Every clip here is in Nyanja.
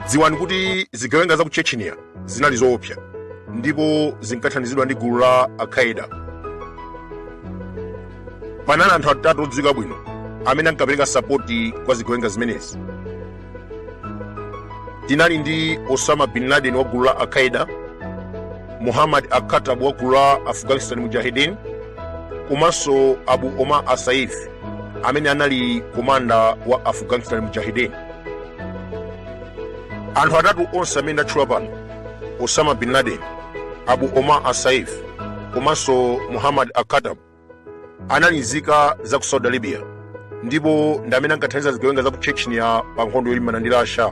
dziwani kuti zigawenga za ku chechnya zinali zoopsa ndipo zinkathandizidwa ndi gulu la al-qaeda panali anthu atatu odziwika bwino amene ankapereka sapoti kwa zigawenga zimenezi tinali ndi osama bin laden wa gulu la al-qaeda muhammad al-khattab wa gulu la afghanistan mujahidin komanso abu omar al-saif amene anali komanda wa afghanistan mujahidin anthu atatu onse amene ndatchula pano osama bin laden abu omar al-saif komanso muhammad al-khattab anali nzika za ku saudi arabia ndipo ndi amene ankathandiza zigawenga za ku chechnya pa nkhondo yolimbana ndi russia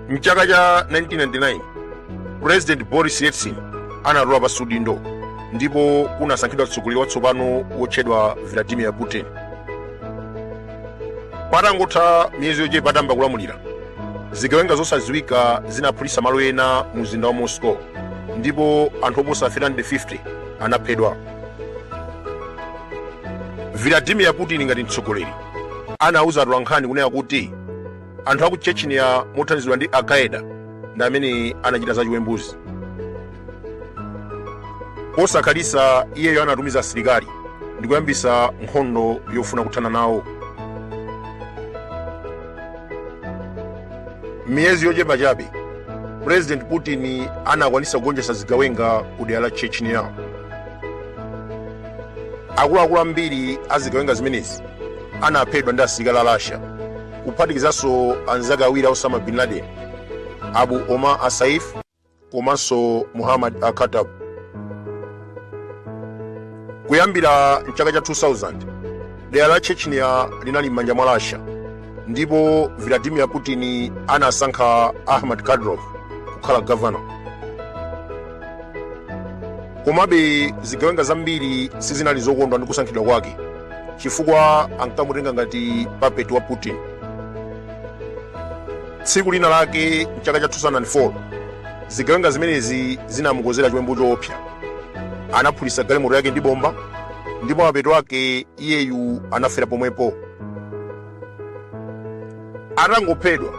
mchaka cha 1999 president boris yeltsin anatula pansi udindo ndipo kunasankhidwa mtsogoleri watsopano wotchedwa vladimir putin patangotha miyezi yochepa atayamba kulamulira zigawenga zosadziwika zinaphulitsa malo ena mu mzinda wa moscow ndipo anthu oposa 350 anaphedwa vladimir putin ngati mtsogoleri anauza atolankhani kunena kuti anthu aku chechnya mothandizidwa ndi al-qaeda ndi amene anachita za chiwembuzi posakhalitsa iyeyo anatumiza asilikali ndi kuyambitsa nkhondo yofuna kuthana nawo miyezi yochepa chabe president putin anakwanitsa kugonjetsa zigawenga ku dera la chechnya akuluakulu ambiri a zigawenga zimenezi anaphedwa ndi asilikali a russia kuphatikizanso anzake awiri a osama bin laden abu omar al-saif komanso muhammad al-khattab kuyambira mchaka cha 2000 dera la chechnya linali m'manja mwa russia ndipo vladimir putin anasankha ahmad kadyrov kukhala governor komabe zigawenga zambiri sizinali zokondwa ndi kusankhidwa kwake chifukwa ankamutenga ngati puppet wa putin tsiku lina lake mchaka cha 2004 zigawenga zimenezi zinamukonzera chiwembu choopsa anaphulitsa galimoto yake ndi bomba ndipo mapeto ake iyeyu anafera pomwepo atangophedwa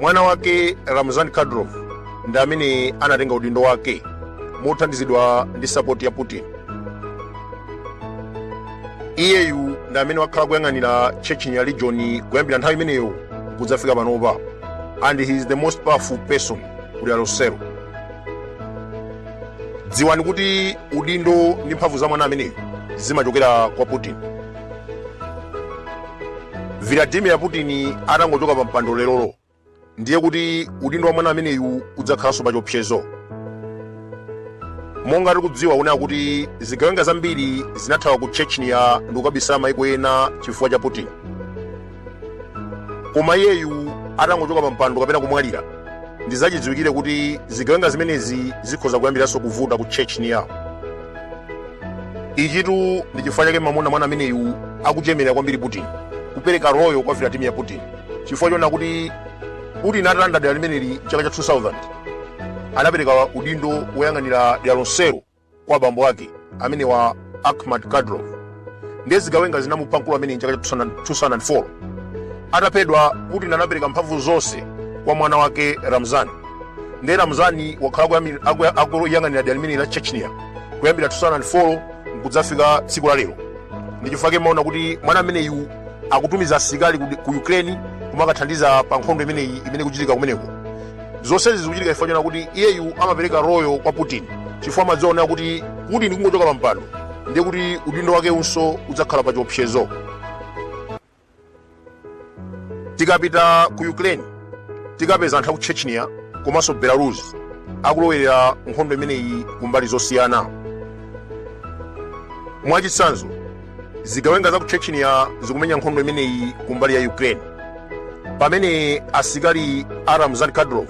mwana wake ramzan kadyrov ndi amene anatenga udindo wake mothandizidwa ndi sapoti ya putin iyeyu ndi amene wakhala kuyang'anira chechnya region kuyambira nthawi imeneyo kudzafika panopa and he is the most powerful person ku dera lonselo dziwani kuti udindo ndi mphamvu za mwana ameneyu zimachokera kwa putin vladimir putin atangochoka pa mpando lerolo ndiye kuti udindo wa mwana ameneyu udzakhalanso pa chiopsezo monga tikudziwa kunena kuti zigawenga zambiri zinathawa ku chechnya ndikukabisala maiko ena chifukwa cha putin koma iyeyu atangochoka pa mpando kapena kumwalira ndizachidziwikire kuti zigawenga zimenezi zikhoza kuyambiranso kuvuta ku chechnya ichitu ndi chifukwa chake mumaona mwana ameneyu akuchemerera kwambiri putin kupereka royo kwa vladimir putin chifukwa chonena kuti putin atalanda dera limeneli chaka cha 2000 anapereka udindo woyang'anira dera lonselo kwa abambo ake amenewa Akhmat Kadyrov ndiye zigawenga zinamupha mkulu ameneyu mchaka cha 2004 ataphedwa Putin anapereka mphamvu zonse kwa mwana wake Ramzan ndiye Ramzani wakhala akuyang'anira dera limeneli la Chechnya kuyambira 2004 nkudzafika tsiku la lero ndi chifukwa chake mumaona kuti mwana ameneyu akutumiza asilikali ku Ukraine kumakathandiza pa nkhondo imeneyi imene ikuchitika kumeneko zonsezi zikuchitika chifukwa chonena kuti iyeyu amapereka royo kwa putin chifukwa amadziwa kunena kuti putin kungochoka pampando ndiye kuti udindo wakewunso udzakhala pa chiopsezo tikapita ku ukraine tikapeza anthu aku chechnya komanso belarus akulowerera nkhondo imeneyi kumbali zosiyana mwachitsanzo zigawenga za ku chechnya zikumenya nkhondo imeneyi kumbali ya ukraine pamene asikali a ramzan kadyrov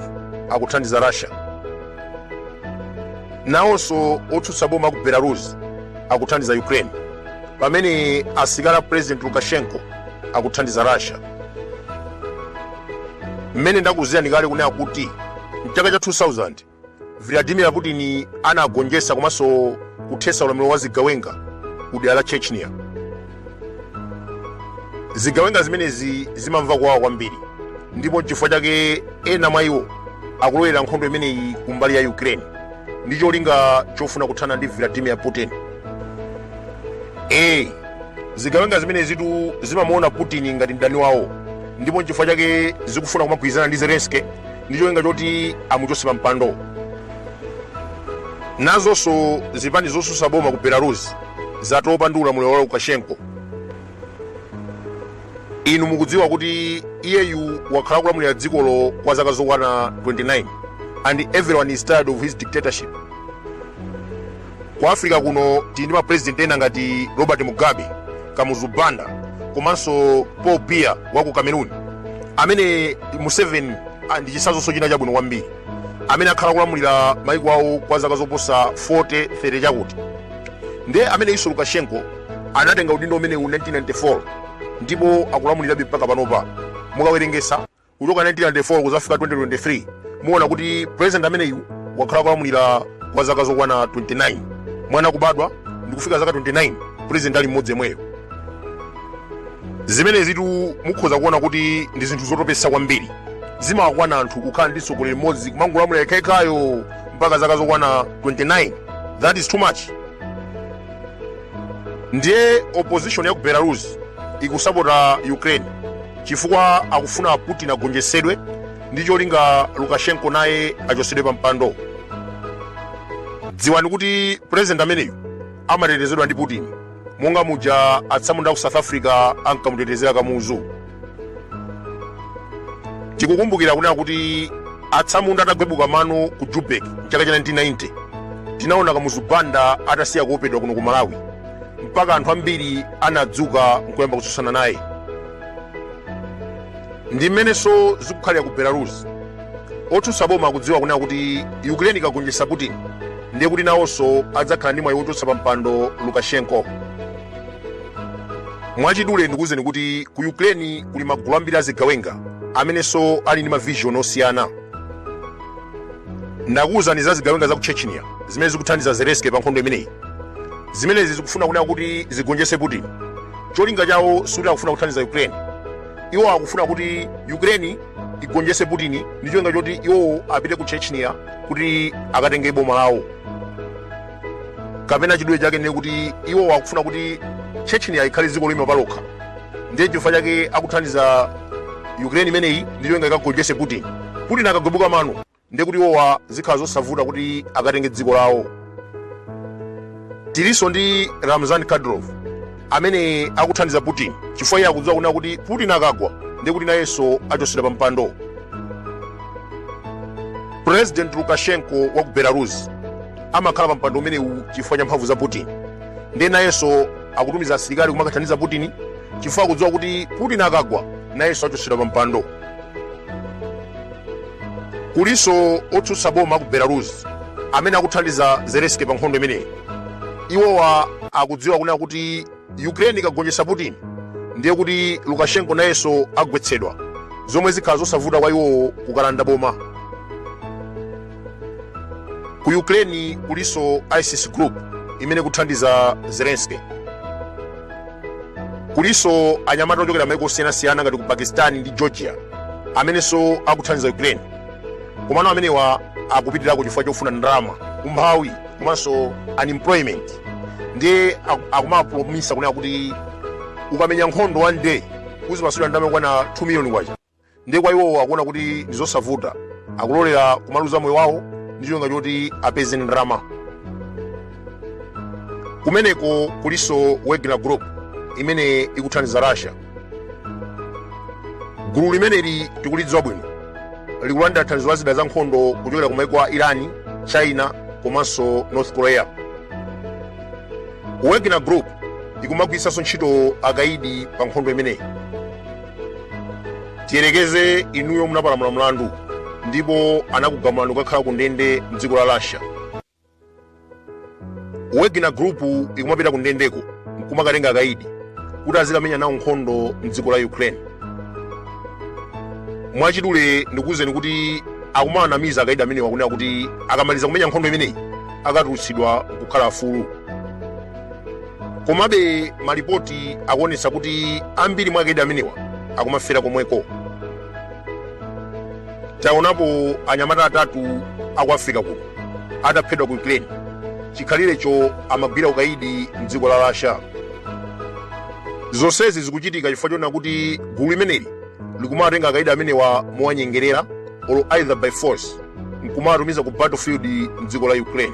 akuthandiza russia nawonso otsutsa boma aku belarus akuthandiza ukraine pamene asikali a president lukashenko akuthandiza russia mmene ndakuuzirani kale kunena kuti mchaka cha 2000 Vladimir Putin anagonjetsa komanso kuthetsa ulamuliro wa zigawenga ku dera la Chechnya. Zigawenga zimenezi zimamva kuwawa kwambiri ndipo nchifukwa chake ena mwa iwo akulowerera nkhondo imeneyi kumbali ya Ukraine ndi cholinga chofuna kuthana ndi Vladimir Putin. Eh, zigawenga zimenezitu zimamuona Putin ngati mdani wawo ndipo nchifukwa chake zikufuna kumagwirizana ndi Zelensky ndi cholinga choti amuchotse pa mpando nazonso zipani zosusa boma ku belarus zatopa ndi ulamuliro wa lukashenko inu mukudziwa kuti iyeyu wakhala kulamulira dzikolo kwa zaka zokwana 29 and everyone is tired of his dictatorship ku africa kuno tili ndi mapulezidenti ena ngati robert mugabe kamuzu banda komanso paul biya wa ku cameroon amene museveni ah, ndi chitsanzonso china chabwino kwambiri amene akhala kulamulira maiko awo kwa zaka zoposa 40 30 chakuti ndiye ameneyunso lukashenko anatenga udindo umenewu 1994 ndipo akulamulirabe mpaka panopa mukawerengesa kuchoka 1994 kuzafika 2023 muona kuti president ameneyu wakhala kulamulira kwa zaka zokwana 29 mwana kubadwa ndikufika zaka 29 president ali mmodzi yemweyo zimenezitu mukhoza kuona kuti ndi zinthu zotopesa kwambiri zimawakwana anthu kukhala ndi mtsogoleri mmodzi kumangolamulira yekhayo mpaka zaka zokwana 29 that is too much ndiye opposition ya ku belarus ikusapota ukraine chifukwa akufuna putin agonjetsedwe ndi cholinga lukashenko naye achotsedwe pa mpando dziwani kuti pulezidenti ameneyu amatetezedwa ndi putin monga muja atsamunda ku south africa ankamutetezera kamuzu tikukumbukira kunena kuti atsamunda atagwebuka mano ku joburg mchaka cha 1990 tinaona kamuzu banda atasiya kuopedwa kuno ku malawi mpaka anthu ambiri anadzuka nkuyamba kutsutsana naye ndi mmenenso zikukhalira ku belarus otsutsa boma akudziwa kunena kuti ukraine ikagonjetsa putin ndiye kuti nawonso adzakhala ndi mwayi wochotsa pa mpando lukashenko mwachidule ndikuwuzeni kuti ku ukraine kuli magulu ambiri azigawenga amenenso ali ndi mavision osiyana ndakuuzani za zigawenga za ku chechnya zimene zikuthandiza zelensky pa nkhondo imeneyi zimenezi zikufuna kunena kuti zigonjetse putin cholinga chawo sikuti akufuna kuthandiza ukraine iwo akufuna kuti ukraine igonjetse putin ndi cholinga choti iwowo apite ku chechnya kuti akatenge boma lawo kapena chidule chake ndiye kuti iwowa akufuna kuti chechnya ikhale dziko loima palokha ndiye chifukwa chake akuthandiza ukraine imeneyi ndi cholinga ikagonjetse putin putin akagwebuka mano ndiye kuti iwowa zikhala zosavuta kuti akatenge dziko lawo tilinso ndi ramzan kadyrov amene akuthandiza putin chifukwa iye akudziwa kunena kuti putin akagwa ndiye kuti nayenso achotsedwa pa mpando president lukashenko wa ku belarus amakhala pa mpando umenewu chifukwa cha mphamvu za putin ndiye nayenso akutumiza asilikali kumakathandiza putin chifukwa akudziwa kuti putin akagwa nayenso achotsedwa pa mpando Kulinso otsutsa boma ku Belarus amene akuthandiza Zelensky pa nkhondo imeneyi. Iwowa akudziwa kunena kuti Ukraine ikagonjetsa Putin ndiye kuti Lukashenko nayenso agwetsedwa, zomwe zikhala zosavuta kwa iwowo kukalanda boma. Ku Ukraine kulinso ISIS group imene ikuthandiza Zelensky. kulinso anyamata ochokera maiko osiyanasiyana ngati ku pakistan ndi georgia amenenso akuthandiza ukraine komano amenewa akupitirako chifukwa chofuna ndalama umphawi komanso unemployment ndiye aku- akumapulomisa kunena kuti ukamenya nkhondo one day uzipatsidwa ndalama yokwana 2 million kwacha ndiye kwa iwowo akuona kuti ndi zosavuta akulolera kumaluza moyo wawo ndi cholinga choti apeze ndalama kumeneko kulinso wagner group imene ikuthandiza russia gulu limeneli tikulidziwa bwino likulandira thandizo la zida za nkhondo kuchokera ku maiko a Iran china komanso north korea wagner group ikumagwiritsanso ntchito akaidi pa nkhondo imeneyi tiyerekeze inuyo munapalamula mlandu ndipo anakugamulani kukakhala ku ndende mdziko la russia wagner group ikumapita ku ndendeko nkumakatenga akaidi kuti azikamenya nawo nkhondo mdziko la ukraine mwachidule ndikuwuzeni kuti akumawanamiza akaidi amenewa kunena kuti akamaliza kumenya nkhondo imeneyi akatulutsidwa kukhala afulu komabe malipoti akuonetsa kuti ambiri mwa akaidi amenewa akumafera komweko taonapo anyamata atatu aku africa kuno ataphedwa ku ukraine chikhalirecho amagwira ukaidi mdziko la russia zonsezi zikuchitika chifukwa chonena kuti gulu limeneli likumawatenga akaidi amenewa mowanyengerera or either by force nkumawatumiza ku battlefield mdziko la ukraine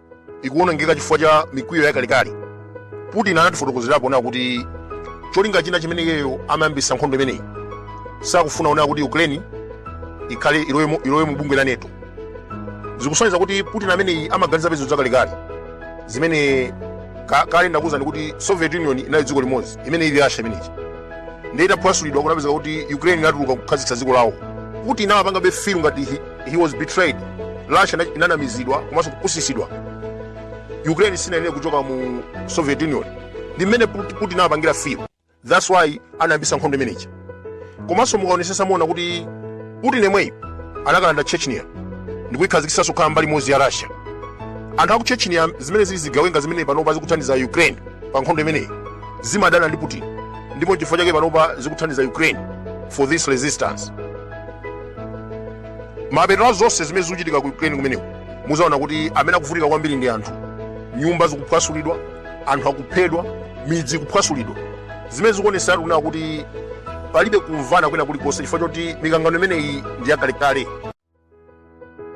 ikuwonongeka chifukwa cha mikwiyo yakalekale putin anatifotokozerapo kunena kuti cholinga china chimene iyeyo amayambisa nkhondo imeneyi sakufuna kunena kuti ukraine ikhale ilowe mu- ilowe mu bungwe la NATO zikusonyeza kuti putin ameneyi amaganiza pezo zakalekale zimene ka- kale ndakuuzani kuti soviet union inali dziko limodzi imene ili russia imeneyi ndiye itaphwasulidwa kunapezeka kuti ukraine inatuluka kukhazikitsa dziko lawo putin amapangabe feel ngati hi- he was betrayed russia ina- inanamizidwa komanso kupusisidwa ukraine sinayenera kuchoka mu soviet union ndi mmene Put- putin amapangira feel that's why anayambisa nkhondo imeneyi komanso mukaonesesa muona kuti putin yemweyi anakalanda chechnya ndikuikhazikisanso kukhala mbali imodzi ya russia anthu aku chechnya zimene zili zigawenga zimene panopa zikuthandiza ukraine pa nkhondo imeneyi zimadana ndi putin ndipo chifukwa chake panopa zikuthandiza ukraine for this resistance mapeto a zonse zimene zikuchitika ku ukraine kumeneko muzaona kuti amene akuvutika kwambiri ndi anthu nyumba zikuphwasulidwa anthu akuphedwa midzi ikuphwasulidwa zimene zikuonesatu kunena kuti palibe kumvana kwina kulikonse chifukwa choti mikangano imeneyi ndi yakalekale